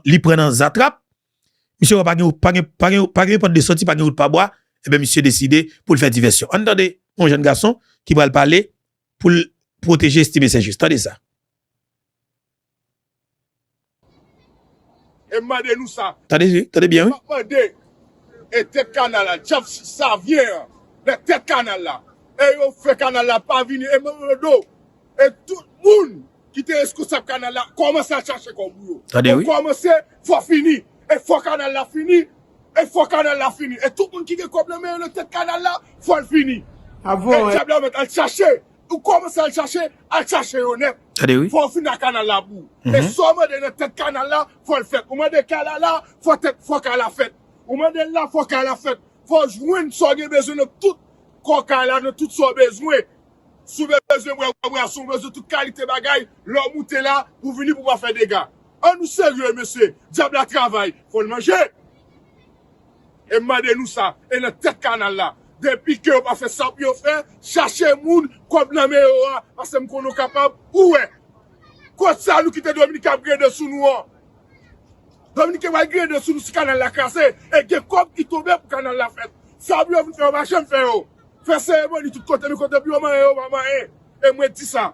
li pran nan zatrap, misye wè pa gen pa gen pa gen pa gen pòt de sòti, pa gen wout pa bwa, enben misye deside pou l fè divèsyon. Ann tande yon jèn gason ki pral pale pou l pwoteje Estimé Saint-Just. Tande sa. E m mande nou sa. Tande wi, tande byen wi. M ap mande e tèt kanal la, dyab savyen an nan tèt kanal la e yo fè kanal la pa vini e m mande w. E tout moun ki te reskonsab kanal la kòmanse al chache kòb ou yo. Tande wi. Ou kòmanse fò fini. E fò kanal la fini. E fò kanal la fini. E tout moun ki gen kòb nan men yo nan tèt kanal la fò l fini. E dyab la mèt al chache. Ou kòmanse al chache, al chache yo nèt. Tande wi. Fò ou fin ak kanal la bou. E sa w mande nan tèt kanal la fò l fèt. Ou mande kay la la, fò tèt, fò kay la fèt. Ou mande l la, fò kay la fèt. Fò w jwenn sa w gen bezwen nan tout kò kay la, nan tout sa w bezwen. Si w bezwen bwè bwason, w bezwen tout kalite bagay, lè w moute la, ou vini pou w pa fè dega. An nou serye mesye, dyab la travay, fò l manje! E m mande nou sa, e nan tèt kanal la, depi ke yo pa fè sa pou yo fè, chache moun kòb nan men yo a, pase m konnen w kapab, ou wè. Kot sa nou kite Dominiken ap grede sou nou an? Dominiken pral grede sou nou si kanal la kraze, e gen kòb ki tonbe pou kanal la fèt. Sa pou yo vin fè yo pa janm fè yo. Fè seremoni tout kote men kote pou yo manyen yo pa manyen e mwen di sa.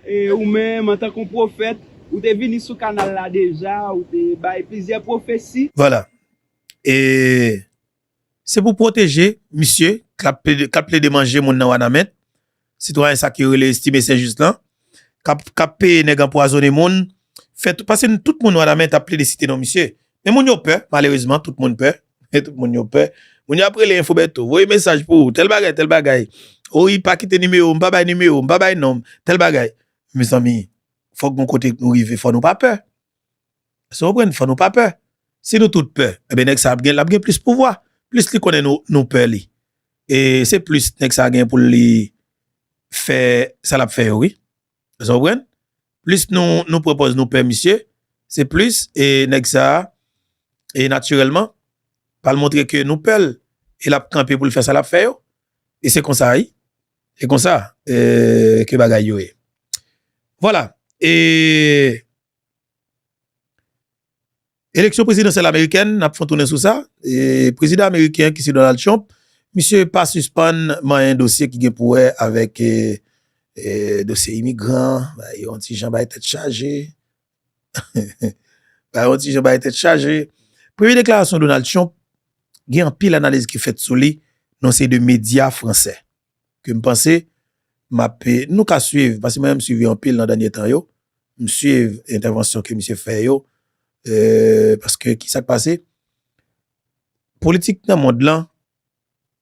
E ou menm, antanke yon pwofèt, ou te vini sou kanal la deja, ou te bay plizyè pwofesi. Voila. E se pou pwoteje misye k ap plede manje moun nan Wanament, sitwayen sa k yo rele Estime St-Juste lan, kap peye nèg anpwazone moun fè tout pase nou tout moun wanament ap plede site non misye men moun yo pè malerezman tout moun pè tout moun yo pè moun yo ap rele info Bertho voye mesaj pou ou tèl bagay tèl bagay owi pa kite nimewo m pa bay nimewo m pa bay non m tèl bagay mezanmi fòk gon kote nou rive fò nou pa pè. Èske w konprann? Fò nou pa pè. Si nou tout pè, enben nèg sa ap gen, l ap gen plis pouvwa. Plis li konnen nou, nou pè li. E se plis nèg sa gen pou li fè sa l ap fè yo wi. Èske w konprann? Plis nou, nou pran pòz nou pè misye, se plis e nèg sa, e natirèlman, pral montre ke nou pè l e l ap kanpe pou l fè sa l ap fè yo. E se konsa wi. Se konsa ke bagay yo ye. Vwala. E. Eleksyon prezidansyèl amerikèn, n ap fè yon tounen sou sa, prezidan ameriken ki se Donald Trump, misye pa sispann manyen dosye ki gen pou wè avèk dosye imigran, bay yon ti jan bay tèt chaje, bay yon ti jan bay tèt chaje. Premye deklarasyon Donald Trump gen anpil analiz ki fèt sou li nan yon seri de medya fransè. ke m panse m ap, nou ka swiv, paske mwen menm m swiv yo anpil nan dènye tan yo, m swiv entèvansyon ke misye fè yo, paske ki sa k pase, politik nan mond lan,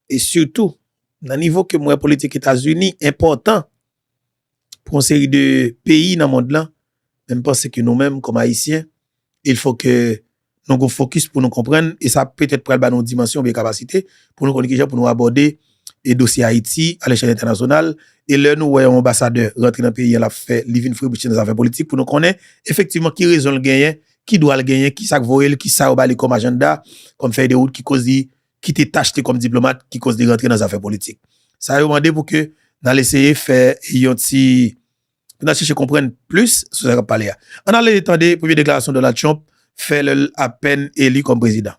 e sitou nan nivo ke m wè politik Etazini enpòtan, pou yon seri de peyi nan mond lan, men m panse ke nou menm kòm Ayisyen, il fò ke nou gen yon fokis pou nou konprann, e sa petèt pral ba nou yon dimansyon oubyen kapasite pou nou konn ki jan pou nou abòde e dosye Ayiti a lèchèl entènasyonal, e lè nou wè yon anbasadè rantre nan peyi an l ap fè, li vin frebuche nan zafè politik pou nou konnen efektivman ki rezon l genyen, ki dwa l genyen, ki sa k voye l, ki sa yo ba li kòm ajannda, kòm fèy de wout ki koz li kite tach li kòm diplomat ki koz li rantre nan zafè politik. Sa yo mande pou ke n al eseye fè yon ti, pou n al chèche konprann plis sou sa k ap pale a. Ann ale tande premye deklarasyon Donald Trump fè lè l apèn eli kòm prezidan.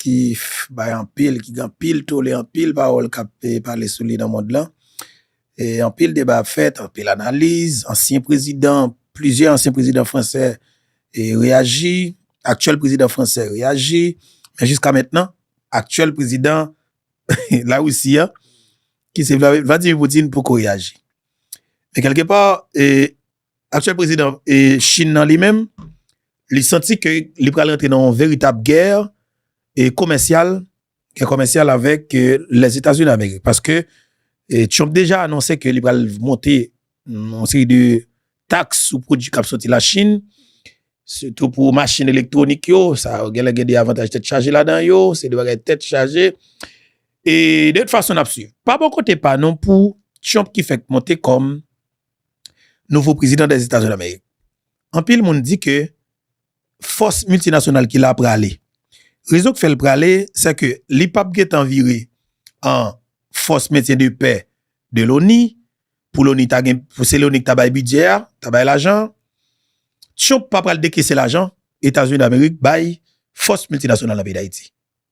ki bay anpil, ki gen anpil tole, anpil pawòl k ap pale sou li nan mond lan. E anpil deba ap fèt, anpil analiz, ansyen prezidan, plizyè ansyen prezidan fransè reyaji, aktyèl prezidan fransè reyaji, men jiska mentnan, aktyèl prezidan Larisi a, ki se Vladimir Poutine poko reyaji. Men kèlke pa, Aktyèl prezidan Chin nan li menm, li santi ke li pral rantre nan yon veritab gè komèsyal, gè komèsyal avèk Lèzetazini Amerik. Paske Trump deja anonse ke li pral monte yon seri de taks sou pwodui kap soti la Chin, sitou pou machin elektwonik yo, sa yo genlè gen de avantaj tèt chaje ladan yo, se de bagay tèt chaje. E de tout fason nap swiv. Pa bò kote pa nou pou Trump ki fèk monte kòm nouvo prezidan des Etazini d'Amerik. Anpil moun di ke fòs miltinasyonal ki la prale. Rezon ki fèl prale se ke li pap gentan vire an fòs mentyen de pè de loni, pou loni ta gen, pou se loni ki ta bay bidjè a, ta bay lajan an. Trump pa pral dekese lajan Etazini d'Amerik bay fòs miltinasyonal nan peyi d'Ayiti.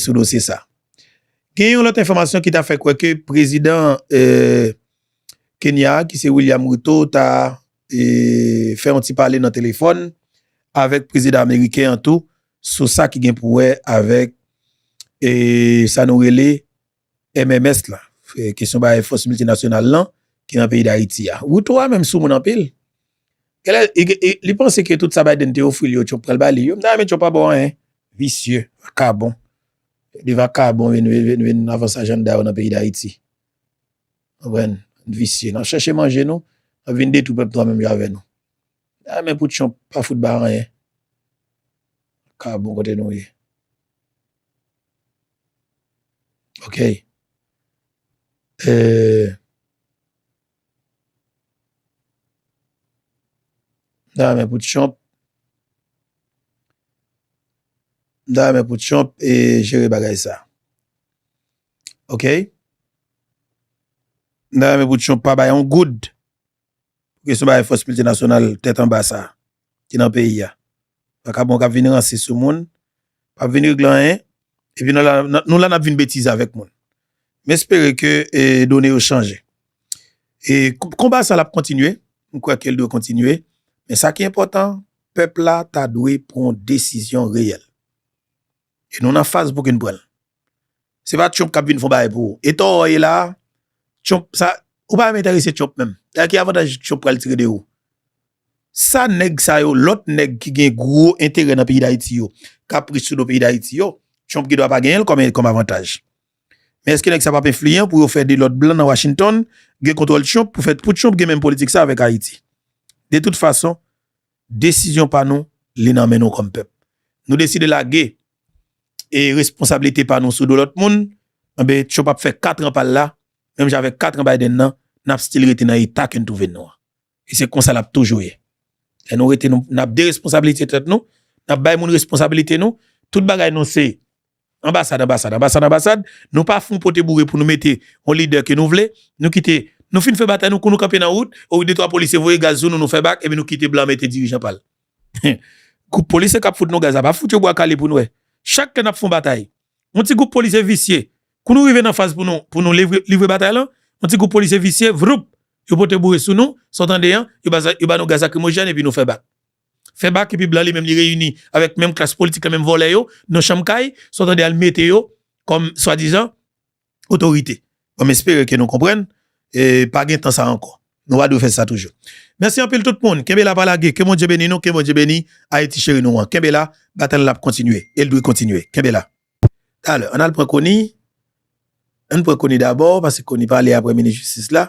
sou dosye sa. Gen yon lòt enfòmasyon ki ta fè kwè ke prezidan Kenya a ki se William Ruto ta fè yon ti pale nan telefòn avèk prezidan ameriken an tou sou sa ki gen pou wè avèk sa nou rele MMS la, kesyon bagay fòs miltinasyonal lan ki nan peyi Dayiti a. Ruto a menm soumoun anpil. Genlè li panse ke tout sa Biden te ofri li yo Trump pral ba li yo. M ta renmen Trump pa ba w anyen. Visye, vakabon. De vakabon vin avanse ajanda yo nan peyi Dayiti. Konprann? Visye. N ap chèche manje nou, n ap vin detwi pèp tou anmenm jan avè nou. Ay men pou Trump pa fout bay anyen ka bon kote nou ye ok eeh. Mta renmen pou Trump mta renmen pou Trump jere bagay sa ok mta renmen pou Trump pa bay yon goud pou kesyon bagay fòs miltinasyonal tèt anba sa a ki nan peyi a. Vakabon k ap vin ranse sou moun, p ap vin regle anyen, epi nou la nou la n ap vin betize avèk moun. M espere ke done yo chanje. E konba sa l ap kontinye, m kwè ke l dwe kontinye, men sa ki enpòtan, pèp la ta dwe pran yon desizyon reyèl. E nou nan faz pou kin pranl. Se pa Trump kap vin fon bagay pou ou. E to ou ye la, Trump sa, ou pa menm enterese Trump menm. Gade ki avantaj Trump pral tire de ou. Sa nèg sa yo, lòt nèg ki gen gwo enterè nan peyi Dayiti yo, kap rich sou do peyi Dayiti yo, Trump gen dwa pa genyenl kòm avantaj. Men eske nèg sa pap enfliyan pou yo fè de lòt blan nan Washington gen kontwòl Trump pou fè, pou Trump gen menm politik sa avèk Ayiti. De tout fason, Desizyon pa nou, li nan men nou kòm pèp. Nou deside lage e responsablite pa nou sou do lòt moun, enben Trump ap fè 4 an pa l la, menm jan avèk 4 an Biden nan, n ap stil rete nan eta ke n twouve nou an. E se konsa l ap toujou ye. Lè nou rete nou, n ap deresponsablite tèt nou, n ap bay moun responsablite nou, tout bagay nou se. Anbasad, anbasad, anbasad, anbasad, nou pa fon pote boure pou nou mete yon lidè ke nou vle, nou kite, nou fin fè batay nou, kou nou kanpe nan wout, o wi de twa polisye voye gaz sou nou, nou fè bak, epi nou kite blan mete dirijan pa l. Hum! Gwoup polisye k ap fout nou gaz la pa fout yo bwa kale pou n wè. Chak lè n ap fon batay, yon ti gwoup polisye visye, kou nou rive nan faz pou nou, pou nou livre, livre batay lan, yon ti gwoup polisye visye, vwoup! yo pote boure sou nou, sa w tande an, yo ba, yo ba nou gaz lakrimojèn epi nou fè bak. Fè bak epi blan li menm li reyini avèk menm klas politik la menm vòlè yo nan chanm kay sa w tande al mete yo kòm swadizan otorite. Bon m espere ke nou konprann e pa gen tan sa ankò. Nou pa dwe fè sa toujou. Mèsi anpil tout moun. Kenbe la pa lage. Ke Bondye beni nou. Ke Bondye beni Ayiti cheri nou an. Kenbe la, batay lan ap kontinye e l dwe kontinye. Kenbe la. Talè, ann al pran Koni. Ann pran Koni dabò, pase Koni pale aprè minis jistis la.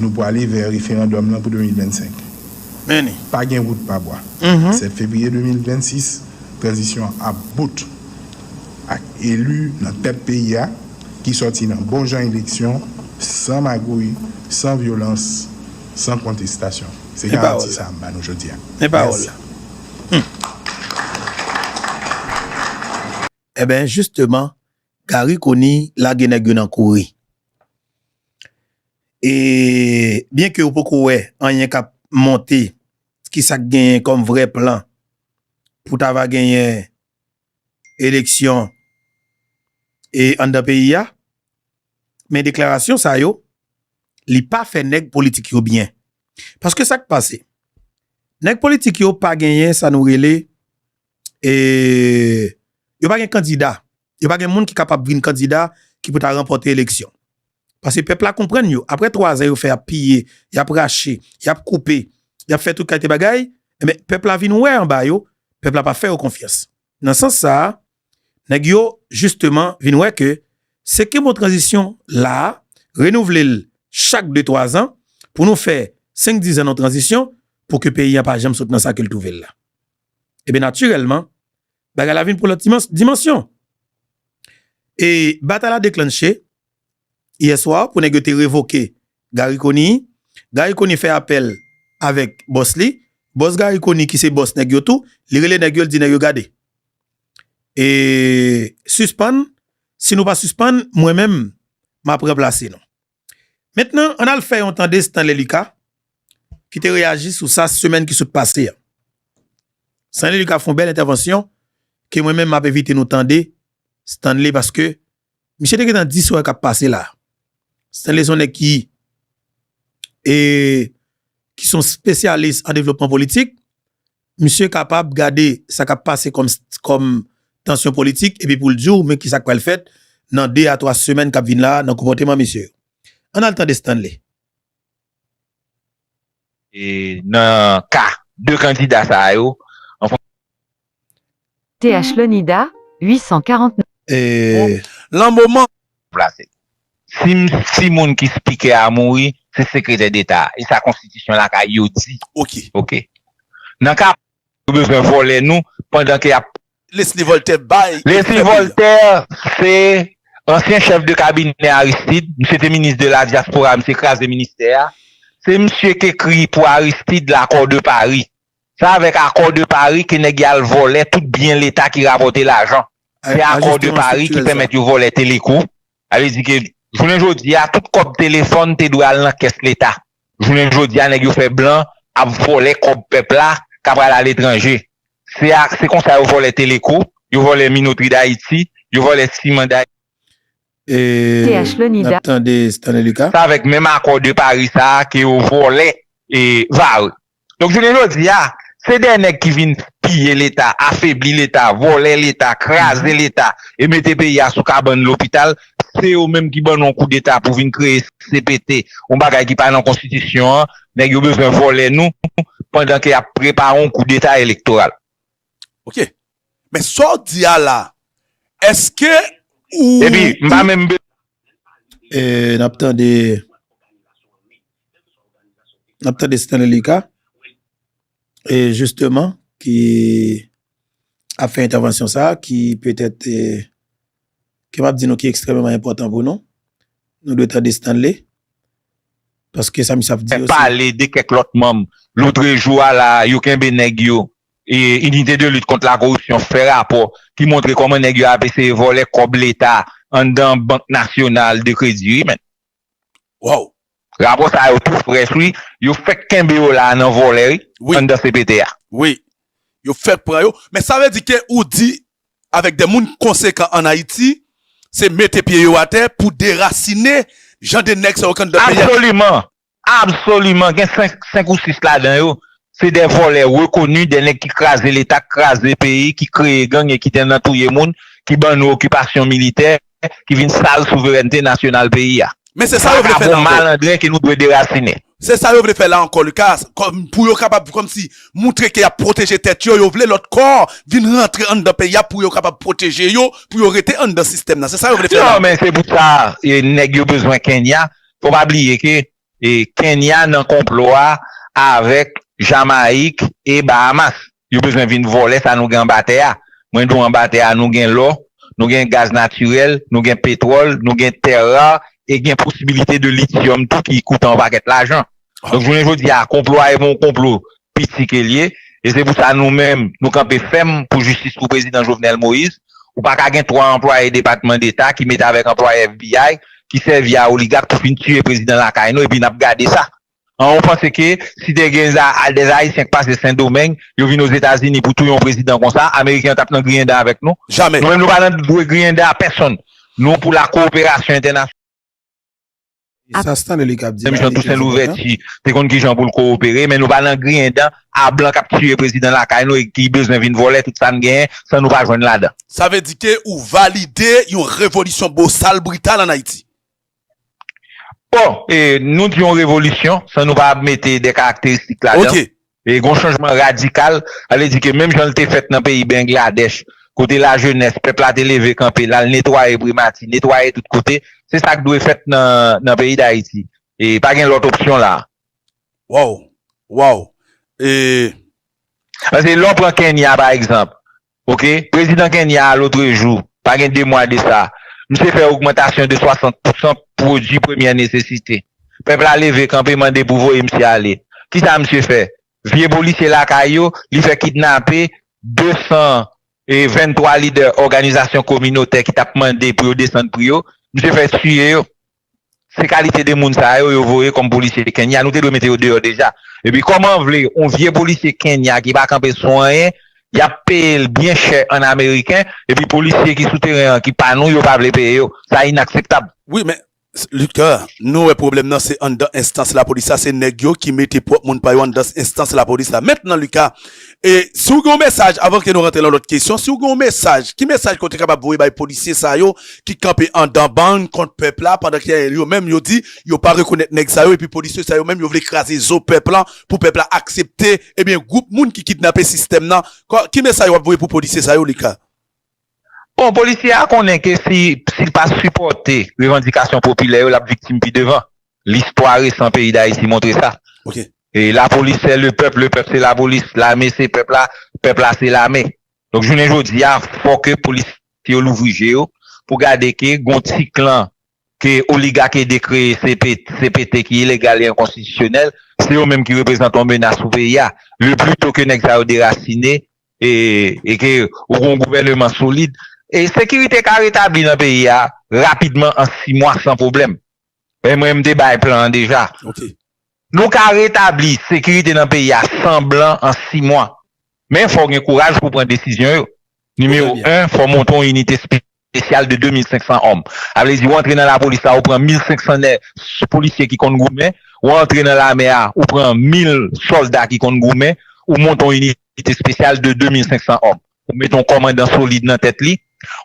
Nou pwale vè referandòm lan pou 2025. Meni. Pa gen wout pa bwa. 7 fevriye 2026, tranzisyon an ap bout ak eli nan tèt peyi a ki sòti nan bon jan eleksyon, san magouy, san vyolans, san kontestasyon. Se garanti sa a m ba nou jodi a. Men pawòl la. Mèsi. Enben, jisteman, Gary conille lage nèg yo nan kouri e byen ke ou poko wè anyen kap monte kisak genyen kòm vrè plan pou ta va genyen eleksyon e anndan peyi a men deklarasyon sa yo li pa fè nèg politik yo byen paske sak pase nèg politik yo pa genyen sa nou rele e yo pa gen kandida, yo pa gen moun ki kapab vin kandida ki pou ta ranpòte eleksyon. Pase pèp la konprann yo, apre 3 zan yo fè ap piye, y ap rache, y ap koupe, y ap fè tout kalte bagay, enben pèp la vin wè anba yo, pèp la pa fè yo konfyans. Nan sans sa a, nèg yo jisteman vin wè ke se ke mo tranzisyon la a, renouvle l chak de 3 zan, pou nou fè 5 dizan nou tranzisyon, pou ke peyi an pa janm sot nan sa ke l twouve l la. e ben natirèlman bagay la vin pran lòt dimansyon. E batay la deklanche yè swa pou nèg yo te revoke Garry Conille, Garry Conille fè apèl avèk bòs li, bòs Garry Conille ki se bòs nèg yo tou, li rele nèg yo li di nèg yo gade e sispann si nou pa sispann mwen menm m ap ranplase nou. Mentnan, ann al fè yon tande Stanley Lucas ki te reyaji sou sa semèn ki sot pase a. Stanley Lucas fè yon bèl entèvansyon ke mwen menm m ap envite nou tande Stanley paske misye te gentan di sa k ap pase la. Stanley se yon nèg ki se yon spesyalis an devlopman politik, Misye kapab gade sa k ap pase kòm tansyon politik epi pou l di w men ki sa k pral fèt nan de a twa semèn k ap vin la a nan konpòteman misye yo. Ann al tande Stanley. E nan ka de kandida sa a yo. Th Leonida 849. Bon lan moman. Plase. Si si moun ki speaker a mouri, se sekretè deta a. E sa konstitisyon lakay yo di. Ok. Ok. Nan ka. Yo bezwen vòlè nou pandan ke yap. Lesly Voltaire bay. Lesly Voltaire se ansyen chèf de kabinè Aristide. Misye te minis de la diaspora, misye kraze ministè a. Se misye k ekri pou Aristide l'accord de Paris. Sa avèk akò de Paris ke nèg ya al vòlè tout byen leta ki rapòte lajan. Se akò de Paris ki pèmèt yo vòlè Teleco. Sa vle di ke jounen jodi ya tout kòb telefòn te dwe al nan kès leta. Jounen jodi ya nèg yo fè blan ap vòlè kòb pèp la ka pral a letranje. Se a se konsa yo vòlè Teleco, yo vòlè Minotri Dayiti, yo vòlè Siman Dayiti. E nap tande Stanley Lucas. Se avèk menm akò de Paris sa ke yo vòlè Vare. Donk jounen jodi a, se dè nèg ki vin piye leta, afebli leta, vòlè leta, kraze leta e mete peyi a sou kabann lopital, se yo menm ki ban nou yon koudeta pou vin kreye cpt, yon bagay ki pa nan konstitisyon an, nèg yo bezwen vòlè nou pandan ke yap prepare yon koudeta elektoral. Ok, Men sa w di a la, eske ou. Epi, m pa menm bezwen. E n ap tande. N ap tande Stanley Lucas, e jisteman ki ap fè entèvansyon sa a, ki petèt te, ke m ap di nou ki ekstrèmeman enpòtan pou nou. Nou dwe tande Stanley, paske sa misye ap di yo se. Pale de kèk lòt manm. Lotrejou a la a, yo kenbe nèg yo. Inite de lit kont la koripsyon fè rapò ki montre kòman nèg yo ap eseye vòlè kòb leta anndan bank nasyonal de kredi wi menn. Waww. Rapò sa yo tou frèch wi, yo fèk kenbe yo la nan vòlè wi anndan cpt a. Wi. Yo fèk pran yo. Men sa vle di ke ou di avèk de moun konsekan an Ayiti se mete pye yo atè pou derasine jan de nèg sa yo k anndan peyi a. Absoliman. Absoliman gen 5 ou 6 ladan yo se dè vòlè rekoni dè nèg ki kraze leta ki kraze peyi ki kreye gang e ki te nan touye moun ki ban nou okipasyon militè ki vin sal souverènte nasyonal peyi a Men se sa yo vle fè la ankò. Malandren ke nou dwe derasinen. Se sa yo vle fè la ankò Lucas kòm pou yo kapab kòm si moutre ke yap pwoteje tèt yo yo vle lòt kò vin rantre anndan peyi a pou yo kapab pwoteje yo pou yo rete anndan sistèm nan se sa yo vle fè la ankò. Non men se pou sa nèg yo bezwen Kenya Fò pa bliye ke Kenya nan konplo a avèk Jamayik e Bahamas. Yo bezwen vin vòlè sa nou gen anba tè a. Mwen di w anba tè a nou gen lò, nou gen gaz natirèl, nou gen petwòl, nou gen tè rar e gen posibilite de lityòm tou ki koute yon pakèt lajan. Donk jounen jodi a konplo a e pa yon konplo piti ke l ye e se pou sa nou menm nou kanpe fèm pou jistis pou prezidan Jovenel Moïse. Ou pa ka gen 3 anplwaye depatman deta ki mete avèk anplwaye FBI ki sèvi a oligak pou fin tiye prezidan lakay nou epi n ap gade sa. An ou panse ke si te gen des Haïtiens k pase Sendomeng yo vin Ozetazini pou touye yon prezidan konsa ameriken yo t ap nan griyen dan avèk nou? Jamè! Nou menm nou pa nan dwe griyen dan a pèsonn. Nou pou la kowoperasyon entènasyonal. ap. Sa Stanley li kap di la. Menm jan Tousen Louvèti te konn ki jan pou l kowopere men nou pa nan griyen dan a blan kap tiye prezidan lakay nou e ki bezwen vin vòlè tout sa n genyen san nou pa jwenn ladan. Sa vle di ke ou valide yon revolisyon bosal brital an Ayiti? Bon, nou di yon revolisyon san nou pa mete de karakteristik ladan. Ok, E gon chanjman radikal, sa vle di ke menm jan li te fèt nan peyi Bengladèch, kote lajenès pèp la te leve kanpe, l al netwaye primati, netwaye tout kote, se sa k dwe fèt nan peyi Dayiti. E pa gen lòt opsyon la a. Waww! Waww! E. Paske lè w pran Kenya pa egzanp, Ok prezidan Kenya a lotrejou, pa gen 2 mwa de sa, misye fè ogmantasyon de 60 pousan pwodui premyè nesesite. Pèp la leve kanpe mande pou voye misye ale. Kisa misye fè? Vye polisye lakay yo, li fè kidnape 223 lidè òganizasyon kominotè ki t ap mande pou yo desann pri yo, misye fè tiye yo. Se kalite de moun sa yo yo voye kòm polisye Kenya, nou te dwe mete yo deyò deja. Epi kòman vle yon vye polisye Kenya ki pa kanpe sou anyen, yap peye l byen chè an ameriken, epi polisye ki sou teren an ki pa nou yo pa vle peye yo. Sa inakseptab. Wi men Luckner, nou wè pwoblèm nan se anndan enstans lapolis la, se nèg yo ki mete pwòp moun pa yo anndan enstans lapolis la. Mentnan Lucas, E si w gen yon mesaj, avan ke nou rantre lan lòt kesyon, si w gen yon mesaj, ki mesaj ke w te kapab voye bay polisye sa yo ki kanpe andan bann kont pèp la pandan ke yo menm yo di yo pa rekonèt nèg sa yo epi polisye sa yo menm yo vle kraze zo pèp lan pou pèp la aksepte ebyen gwoup moun ki kidnape sistèm nan? Ki mesaj w ap voye pou polisye sa yo Lika? Bon, polisye a konnen ke si li pa sipòte revandikasyon popilè yo, l ap viktim pi devan. Listwa resan peyi Dayiti montre sa. Lapolis se le pèp, le pèp se lapolis, lame se pèp la, pèp la se lame. Donk jounen jodi a, fò ke polisye yo louvri je yo pou gade ke gon ti klan ke oligak ede kreye CPT ki ilegal e enkonstitisyonèl, se yo menm ki reprezante yon menas pou peyi a. Le pli to ke nèg sa yo derasine, e ke ou gen yon gouvèneman solid, sekirite ka retabli nan peyi a rapidman an 6 mwa san pwoblèm. E mwen m te bay plan an deja. Nou ka retabli sekirite nan peyi a san blan an 6 mwa. Men fò w gen kouraj pou w pran desizyon yo. Nimewo 1, fò w monte yon inite spesyal de 2500 òm. Sa vle di ou antre nan lapolis la ou pran 1500 nè polisye ki konn goumen, ou antre nan lame a ou pran 1000 sòlda ki konn goumen, ou monte yon inite spesyal de 2500 òm. Ou mete yon kòmandan solid nan tèt li,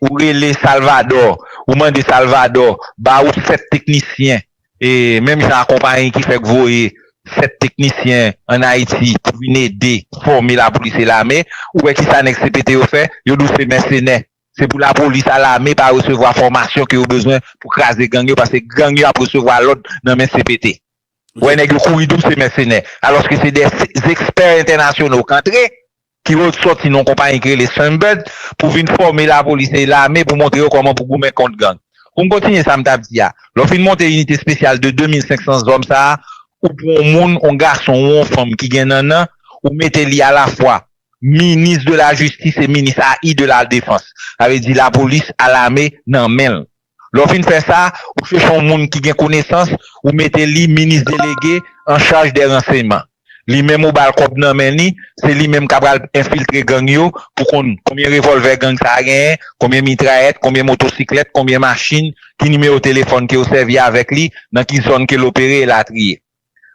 ou rele Salvadò, ou mande Salvadò ba ou 7 teknisyen e menm jan a konpayi ki fèk voye 7 teknisyen an Ayiti pou vin ede fòme lapolis e lame, ou wè kisa nèg CPT yo fè? Yo di w se mèsenè. Se pou la polis a lame pa resevwa fòmasyon ke yo bezwen pou kraze gang yo paske gang yo ap resevwa lòd nan men cpt. Wè nèg yo kouri dou se mèsenè alòske se de zexpè entènasyono kantre ki ret sòti nan yon konpayi ki rele Sunbird pou vin fòme la polis e lame pou montre yo kòman pou goumen kont gang. Pou m kontinye sa m tap di a, lè w fin monte inite spesyal de 2500 zòm sa a, ou pran yon moun, yon gason ou yon fanm ki gen nannan, ou mete li a la fwa Minis de la jistis e minis a i de la defans. Sa vle di lapolis a lame nan men l. Lè w fin fè sa, ou chèche yon moun ki gen konesans, ou mete li minis delege an chaj dè ranseyman. Li menm ou ba l kòb nan men li, se li menm k ap al enfiltre gang yo pou konn konbyen revòlvè gang sa a genyen, konbyen mitrayèt, konbyen motosiklèt, konbyen machin, ki nimewo telefòn ke yo sèvi avèk li, nan ki zòn ke l opere, elatriye.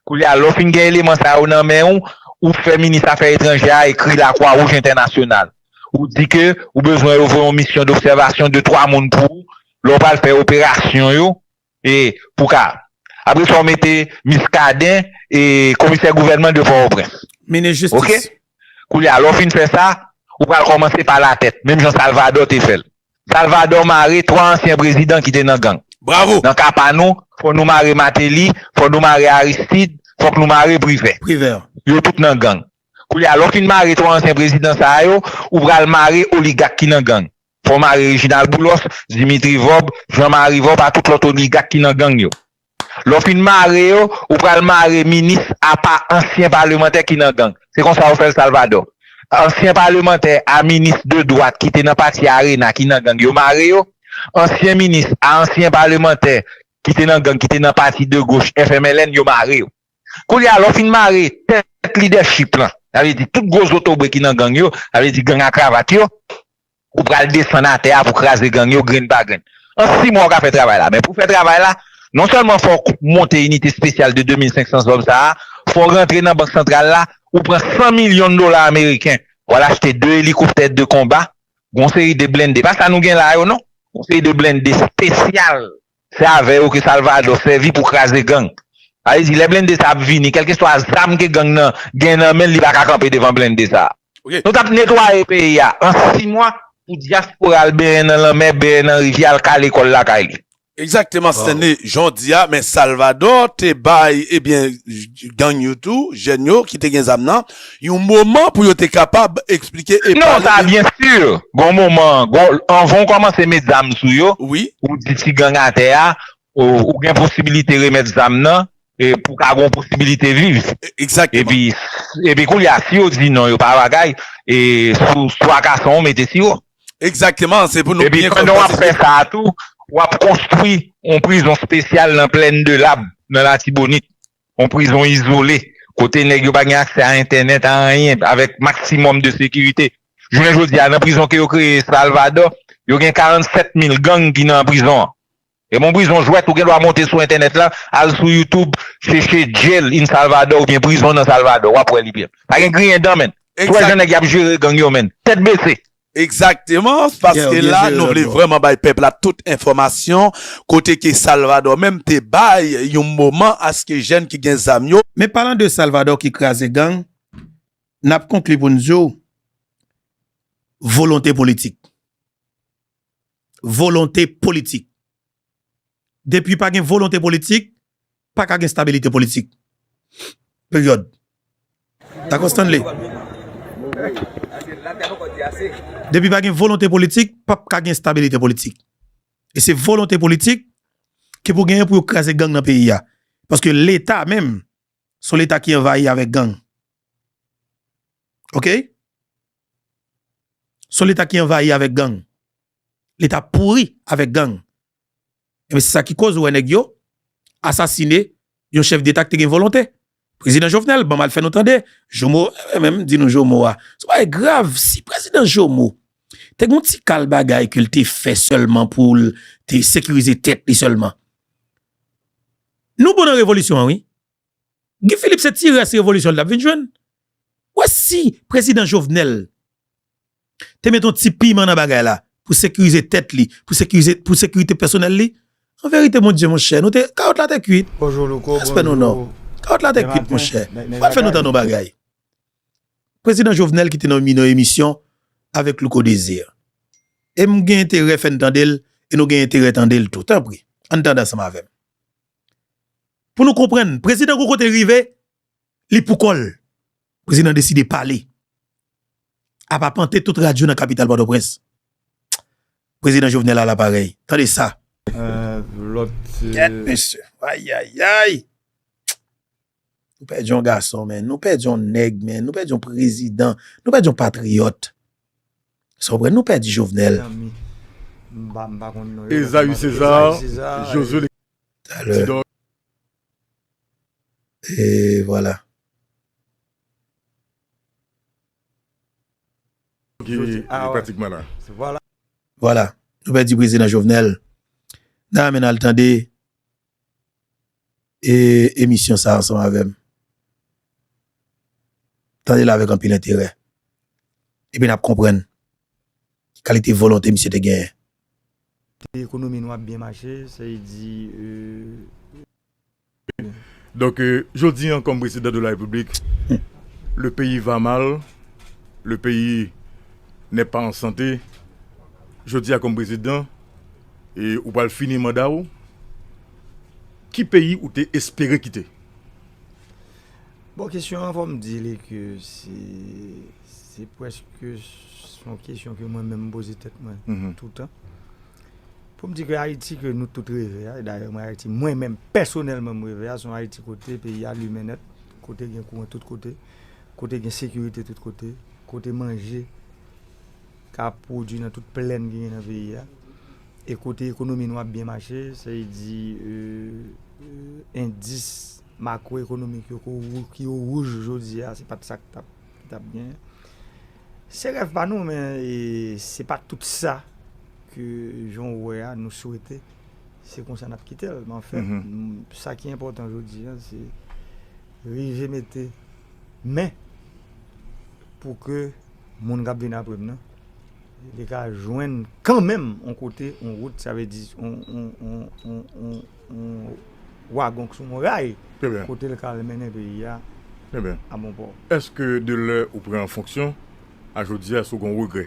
Koulye a, lè w fin gen eleman sa yo nan men ou, ou fè Minis Afè Etranjè a ekri Lakwa Wouj Entènasyonal. Ou di ke ou bezwen yo voye yon misyon dobsèvasyon de twa moun pou ou, lè w pral fè operasyon yo, e pou w ka. Apre sa w mete Miskaden e Komisè Gouvènman de Pòtoprens. Minis Jistis. Ok? Koulye a, lè w fin fè sa, ou pral kòmanse pa latèt, menm jan Salvadò te fè l. Salvador mare 3 ansyen prezidan ki te nan gang. Bravo! Nan ka pa nou, fò nou mare Mateli, fò nou mare Aristide, fòk nou mare Privè. Privè. Yo tout nan gang. Koulye a, lè w fin mare 3 ansyen prezidan sa a yo, ou pral mare oligak ki nan gang. Fò w mare Reginald Boulos, Dimitri Vorbe, Jean Marie Vorbe a tout lòt oligak ki nan gang yo. Lè w fin mare yo, ou pral mare minis apa ansyen palemantè ki nan gang. Se konsa yo fè l Salvadò. Ansyen palemantè a minis de dwat ki te nan pati arena ki nan gang yo mare yo. Ansyen minis a ansyen palemantè ki te nan gang ki te nan pati de goch FMLN yo mare yo. Koulye a lè w fin mare tèt lidèchip lan, sa vle di tout gwo zotobre ki nan gang yo, sa vle di gang a kravat yo, Ou pral desann atè a pou kraze gang yo grenn pa grenn. An 6 mwa ou ka fè travay la. Men pou fè travay la, non sèlman fò w monte inite spesyal de 2500 zòm sa a, fò w rantre nan bank santral la, ou pran 100 milyon dola ameriken, w al achte 2 elikoptè de konba, gon seri de blende, pa sa nou gen la yo non, gon seri de blende spesyal Se avè yo ke Salvadò sèvi pou kraze gang. Sa vle di lè blende sa ap vini, kèlkeswa zam ke gang nan gen nan men l, li pa ka kanpe devan blende sa a. Nou t ap netwaye peyi a an si mwa pou dyaspora al benyen nan lanmè, benyen nan rivyè, al ka lekòl lakay li. Egzakteman Stanley, jan w di a, men Salvadò te bay, ebyen, gang yo tou, jèn yo ki te gen zam nan, Yon moman pou yo te kapab eksplike e pale. Non, sa a byen si, gon moman, gon, anvan ou kòmanse met zam sou yo, ou di ti gang atè a, ou gen posibilite remèt zam nan, e pou ka gon posibilite viv. Egzakteman. Epi, epi koulye a, si yo di non, yo pa bagay, e sou swa kason ou mete siwo. Egzakteman, se pou nou byen konn pandan w ap fè sa a tou, w ap konstwi yon prizon spesyal nan Plèn de Lab, nan Latibonit. Yon prizon izole, kote nèg yo pa gen aksè a entènèt, a anyen, avèk maksimòm de sekirite. Jounen jodi a, nan prizon ke yo kreye Salvadò, yo gen 47 mil gang ki nan prizon an. Se pa yon prizon jwèt, ou gen dwa monte sou entènèt la, al sou YouTube, chèche Jail in Salvador oubyen Prizon nan Salvadò, w ap wè li byen. Pa gen griyen dan menn. Ou wè jan nèg y ap jere gang yo menn. Tèt bese. Exactement paske la nou vle vreman bay pèp la tout enfòmasyon kote ke Salvador menm te bay yon moman aske jèn ki gen zam yo. Men palan de Salvador ki kraze gang nap konkli pou n di w volonte politik volonte politik depi pa gen volonte politik Pa ka gen stabilite politik. Peryòd. Dakò Stanley? Depi pa gen volonte politik, pap ka gen stabilite politik. E se volonte politik ki pou genyen pou yo kraze gang nan peyi a. Paske leta menm, se yon leta ki anvayi avèk gang. Ok? Se yon leta ki anvayi avèk gang. Leta pouri avèk gang. Ebyen se sa ki koz ou wè nèg yo asasine yon chèf deta ki te gen volonte. Prezidan Jovenel banm al fè nou tande Jomo, mwen menm di nou Jomo a, son bagay grav, si prezidan Jomo te gon ti kal bagay ke l te fè sèlman pou l te sekirize tèt li sèlman. Nou bon nan revolisyon an wi. Guy Philippe se ti rès revolisyon l t ap vin jwenn. Ou wè si prezidan Jovenel. te met yon ti piman nan bagay la pou sekirize tèt li, pou sekirite pèsonèl li? An verite mon Dye monchè, nou te, kawòt la te kwit. Respè nou non. Kawòt la te kwit monchè. Fò al fè nou tande yon bagay. Prezidan Jovenel ki te nan yon emisyon avèk Louko Desir. E m gen enterè fè n tande l e nou gen enterè tande l tou. Tanpri, ann tande ansanm avè m. Pou nou konprann, prezidan gon kote l rive, li pou kò l. Prezidan deside pale ap apante tout radyo nan kapital Pòtoprens. Prezidan Jovenel a laparèy. Tande sa! Gèt mesye! Ayayayy! Nou pèdi yon gason men. Nou pèdi yon nèg men. Nou pèdi yon prezidan. Nou pèdi yon patriyòt. Sa w konprann? Nou pèdi Jovenel. Ezayi Sezar, Jozye Lekizè, Ti Dòk. E vwala. Vwala, nou pèdi prezidan Jovenel. Nan men al tande emisyon sa ansanm avè m. Tande l avèk anpil enterè. Epi n ap konprann. ki kalite volonte misye te genyen. Di ekonomi nou ap byen mache, se di e. Donk jodi an kòm prezidan de la repiblik, le peyi va mal, le peyi nè pa an sante, jodi a kòm prezidan, e ou pral fini manda ou, ki peyi ou te espere kite? Bon kesyon an fò m di li ke se. Se preske son kesyon ke mwen menm poze tèt mwen toutan. Pou m di ke Ayiti ke nou tout reve a, e dayè mwen Ayiti mwen menm pèsonèlman m reve a, son Ayiti kote peyi a limen nèt, kote gen kouran tout kote, kote gen sekirite tout kote, kote manje ka pwodui nan tout plèn ki gen nan peyi a, e kote ekonomi nou ap byen mache, se yi di endis makwoekonomik yo ki o wouj jodi a, se pat sa k tap. Li tap byen. Se rèv pa nou men se pa tout sa ke jan ou wè a nou swete se konsa nap kitel. Men anfen sa ki enpòtan jodi an se rive mete men pou ke moun kap vini apre m nan li ka jwenn kanmenm yon kote yon wout sa vle di yon yon wagon k sou yon ray kote l ka al mennen peyi a a bon pò. Eske de lè ou pran an fonksyon a jodi a eske ou gen yon regrè?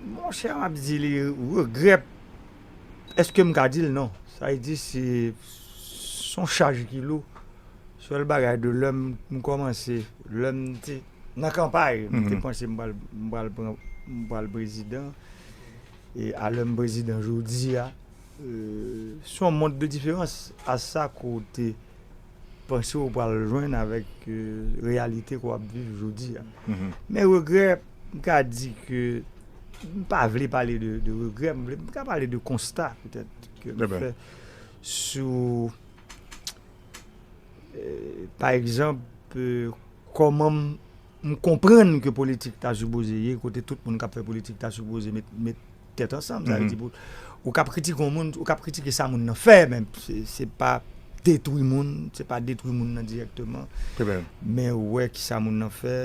Mon chè m ap di li regrè eske m ka di l non. Sa vle di se yon chaj ki lou. Sèl bagay de lè m kòmanse, lè m te nan kanpay m te panse m pral prezidan. E a lè m prezidan jodi a. Se yon mond de diferans a sa ke w te panse w pral jwenn avèk reyalite ke w ap viv jodi a. Men regrè, m ka di ke m pa vle pale de regrè, m vle, m ka pale de konsta petèt ke m fè sou pa egzanp kòman m. M konprann ke politik ta sipoze ye kote tout moun k ap fè politik ta sipoze met tèt ansanm. Sa vle di pou ou ka kritike yon moun, ou ka kritike sa moun nan fè men se pa detwi moun, se pa detwi moun nan dirèkteman. Men wè ki sa moun nan fè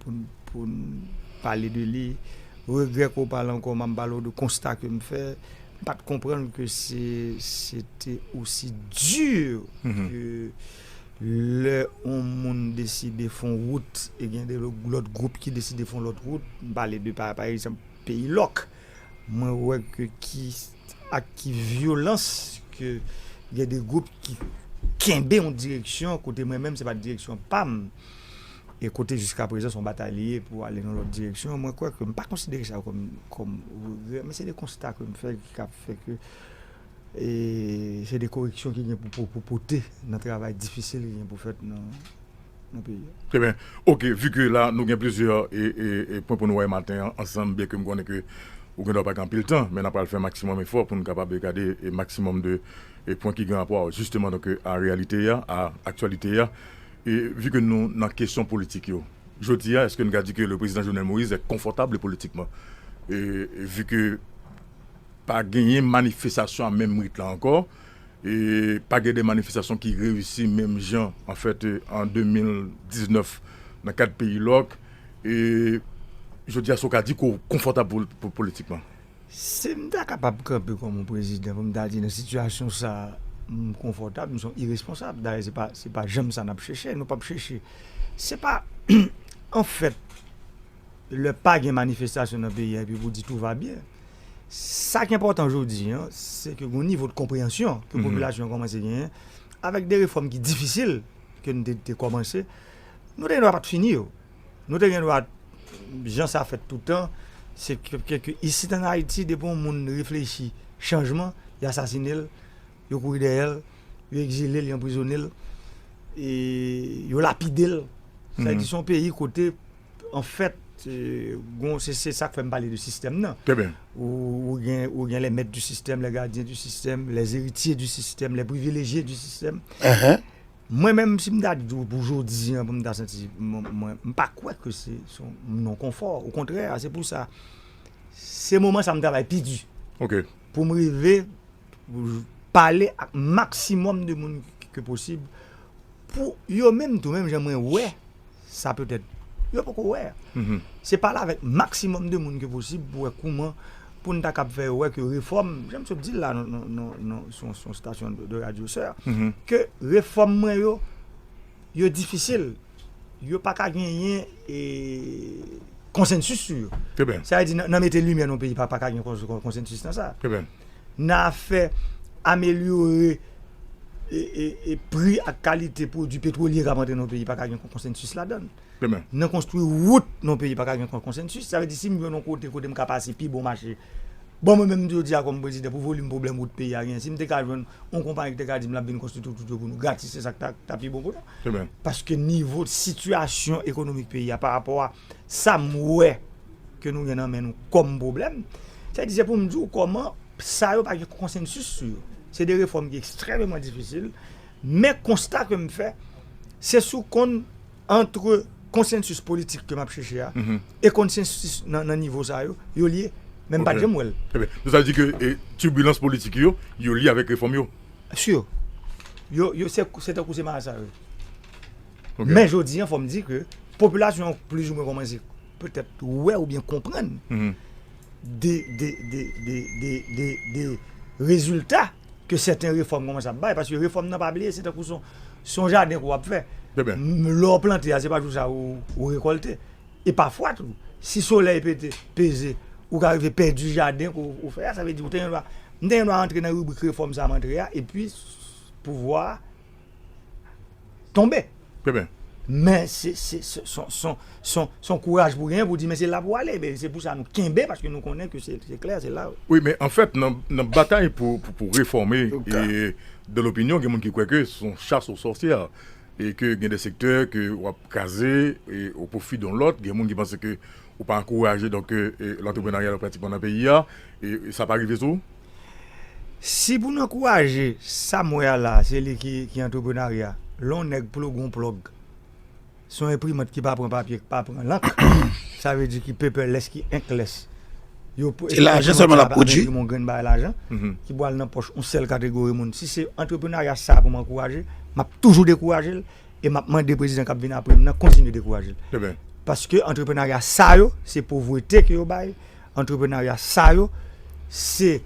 pou n pale de li. Regrè ke w pale ankò, m ap pale w de konsta ke m fè. M pa t konprann ke se te osi di ke. Lè yon moun deside fon wout e gen de lòt gwoup ki deside fon lòt wout, m pale de pa egzanp peyi lòk, mwen wè ke ki ak ki vyolans ke gen de gwoup ki kenbe yon direksyon kote mwen menm se pa t direksyon pa m e kote jiska prezan se yon batay li ye pou ale nan lòt direksyon mwen kwè ke m pa konsidere sa kòm regrè men se de konsta ke m fè ki ka fè ke E se de koreksyon ki gen pou pote nan travay difisil ki gen pou fèt nan peyi a. Trè byen. Ok, vu ke la nou gen plizyè pwen pou nou wè maten an ansanm, byen ke m konnen ke ou gen dwa pa gen anpil tan, men n a pral fè maksimòm efò pou nou kapab gade maksimòm de pwen ki gen rapò jisteman donk a reyalite a, a aktyalite a. E vu ke nou nan kesyon politik yo, jodi a èske n ka di ke le prezidan Jovenel Moïse est confortable politiquement? E vu ke Pa genyen manifestasyon a menm rit la ankò. Pa gen de manifestasyon ki reyisi menm jan an fèt an 2019 nan kad peyi lòk. Jodi a sa w ka di ke w konfòtab politikman? Si m ta kapab kanpe kòm yon prezidan pou m ta di nan sitiyasyon sa a m konfòtab, m se yon iresponsab. Dayè se pa janm sa n ap chèche. Nou p ap chèche. Se pa an fèt. lè pa gen manifestasyon nan peyi a epi pou w di tou va byen. Sa k enpòtan jodi an, se ke gon nivo de konpreyansyon ke popilasyon an kòmanse genyen avèk de refòm ki difisil ke n te kòmanse. Nou te gen dwa pa t fini yo. Nou te gen dwa, jan sa fèt toutan, se ke isit an Ayiti depi yon moun reflechi chanjman, y asasine l. Yo kouri dèyè l, yo egzile l, yo anprizone l, yo lapide l. Sa vle di se yon peyi kote anfèt gon, se sa k fè m pale de sistèm nan. Ou gen lè mèt di sistèm, lè gadyen di sistèm, lè eritye di sistèm, lè privilejye di sistèm. Mwen menm si m ta di w pou jodi an pou m ta santi mwen, m pa kwè ke se yon non konfò. Okontrè, se pou sa se moman sa m travay pi di pou m rive. pale ak maksimòm de moun ke posib pou yo menm tou menm jan mwen wè sa petèt yo poko wè se pale avèk maksimòm de moun ke posib pou wè kouman pou n ta kab fè yo wè ke refòm jan m sot di l la nan sou yon stasyon de radyo sè ke refòm mwen yo yo difisil yo pa ka genyen e konsensis sou yo sa vle di nan mete limyè nan yon peyi pa ka gen konsensis nan sa nan afè amelyore pri ak kalite pwodui petwolye k ap antre nan yon peyi pa ka gen konsensis ladan l. Nan konstwi wout nan yon peyi pa ka gen konsensis. Sa vle di si m jwenn yon kote kote m ka pase pi bon mache, bon mwen menm jodi a kòm prezidan pou volim pwoblèm wout peyi a genyen si m te ka jwenn yon konpayi ki te ka di m l ap vin konstwi tout wout yo pou nou gratis se sa k ta pi bon pou nou. Paske nivo sitiyasyon ekonomik peyi a parapò a sa m wè. ke nou gen nan men nou kòm pwoblèm, sa di se pou m di w kòman sa yo pa gen konsensis sou yo. Se de refòm ki ekstrèmeman difisil, men konsta ke m fè, se sou konn antre konsensis politik ke m ap chèche a, e konsensis nan nivo sa yo, yo lye, men m pa t janm wè l. Donk sa vle di ke tibilans politik yo, yo lye avèk refòm yo? Sure. Yo, yo se tankou se marasa yo ye. Men jodi an fò m di ke popilasyon an plizoumwen kòmanse. petèt wè oubyen konprann de rezilta ke sèten refòm kòmanse ap bay, paske refòm nan pa bliye se tankou son jaden ke w ap fè, lè w plante a se pa jou sa ou rekòlte, e pafwa tou si solèy pete peze ou ka rive pèdi jaden ke w fè a, sa vle di ou te gen dwa, m te gen dwa antre nan ribrik refòm sa m antre a, epi pouvwa. tonbe. Trèbyen. Men se son kouraj pou genyen pou di men se la pou ale. Se pou sa nou kenbe paske nou konnen ke se klè se la. Wi men an fèt nan batay pou refòme de lopinyon gen moun ki kwè ke son chas o sòsyè e ke gen de sektè ke w ap kraze o pwofi don lòt. Gen moun ki panse ke ou pa ankouraje donk lantreprenaryal pratikman nan peyi a. Sa pa rive sou ou? Si pou n ankouraje sa m wè a la a, se li ki antreprenarya. Lè yon nèg ploge yon plòg, se yon enprimant ki pa pran papye, ki pa pran lank, sa vle di ki paperless, ki inkless. Se lajan sèlman l ap pwodui. Enprimant sa a ap enprime yon grenn bagay lajan ki pral nan pòch yon sèl kategori moun. Si se antreprenarya sa a pou m ankouraje, m ap toujou dekouraje l e m ap mande prezidan k ap vin apre m nan kontinye dekouraje l. Paske antreprenarya sa yo, se povrete ke yo bay Antreprenarya sa yo se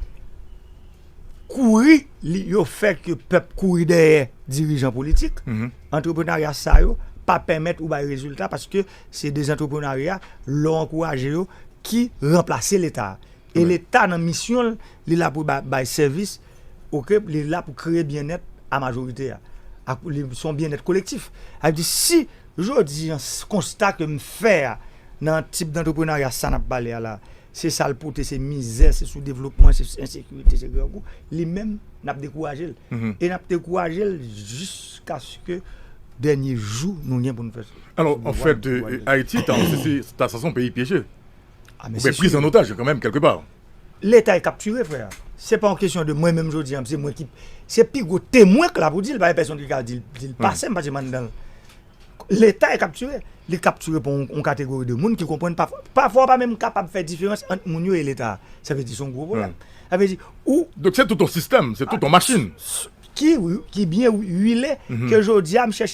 kouri yo fè ke pèp kouri dèyè dirijan politik. Antreprenarya sa yo pa pèmèt ou bay rezilta paske se de zantreprenarya lè w ankouraje yo ki ranplase leta. E leta nan misyon l, li la pou bay sèvis, ok, li la pou kreye byennèt a majorite a. Se yon byennèt kolektif. Sa vle di si. Jodi an, konsta ke m fè a nan tip dantreprenarya sa n ap pale a la, se sa l pote, se mizè, se soudevlopman, se ensekirite, se grangou, li menm n ap dekouraje l. E n ap dekouraje l jiskaske dènye jou nou gen pou nou fè sou pouvwa. Alò, anfèt, Ayiti ta sanse yon peyi pyeje, oubyen priz an otaj kanmenm kèlkepar. Leta e kaptire frè a. Se pa yon kesyon de mwen menm jodi an se mwen ki se pi gwo temwen k la pou di l pa gen pèsonn ki ka di l pase m paske m anndan l. Leta e kaptire. Li kaptire pou yon kategori de moun ki konprann pafwa pafwa ou pa menm kapab fè diferans ant moun yo e leta a. Sa vle di se yon gwo pwoblèm. Sa vle di ou. Donk se tout yon sistèm, se tout yon machin. Ki ki byen wile ke jodi a m chèche.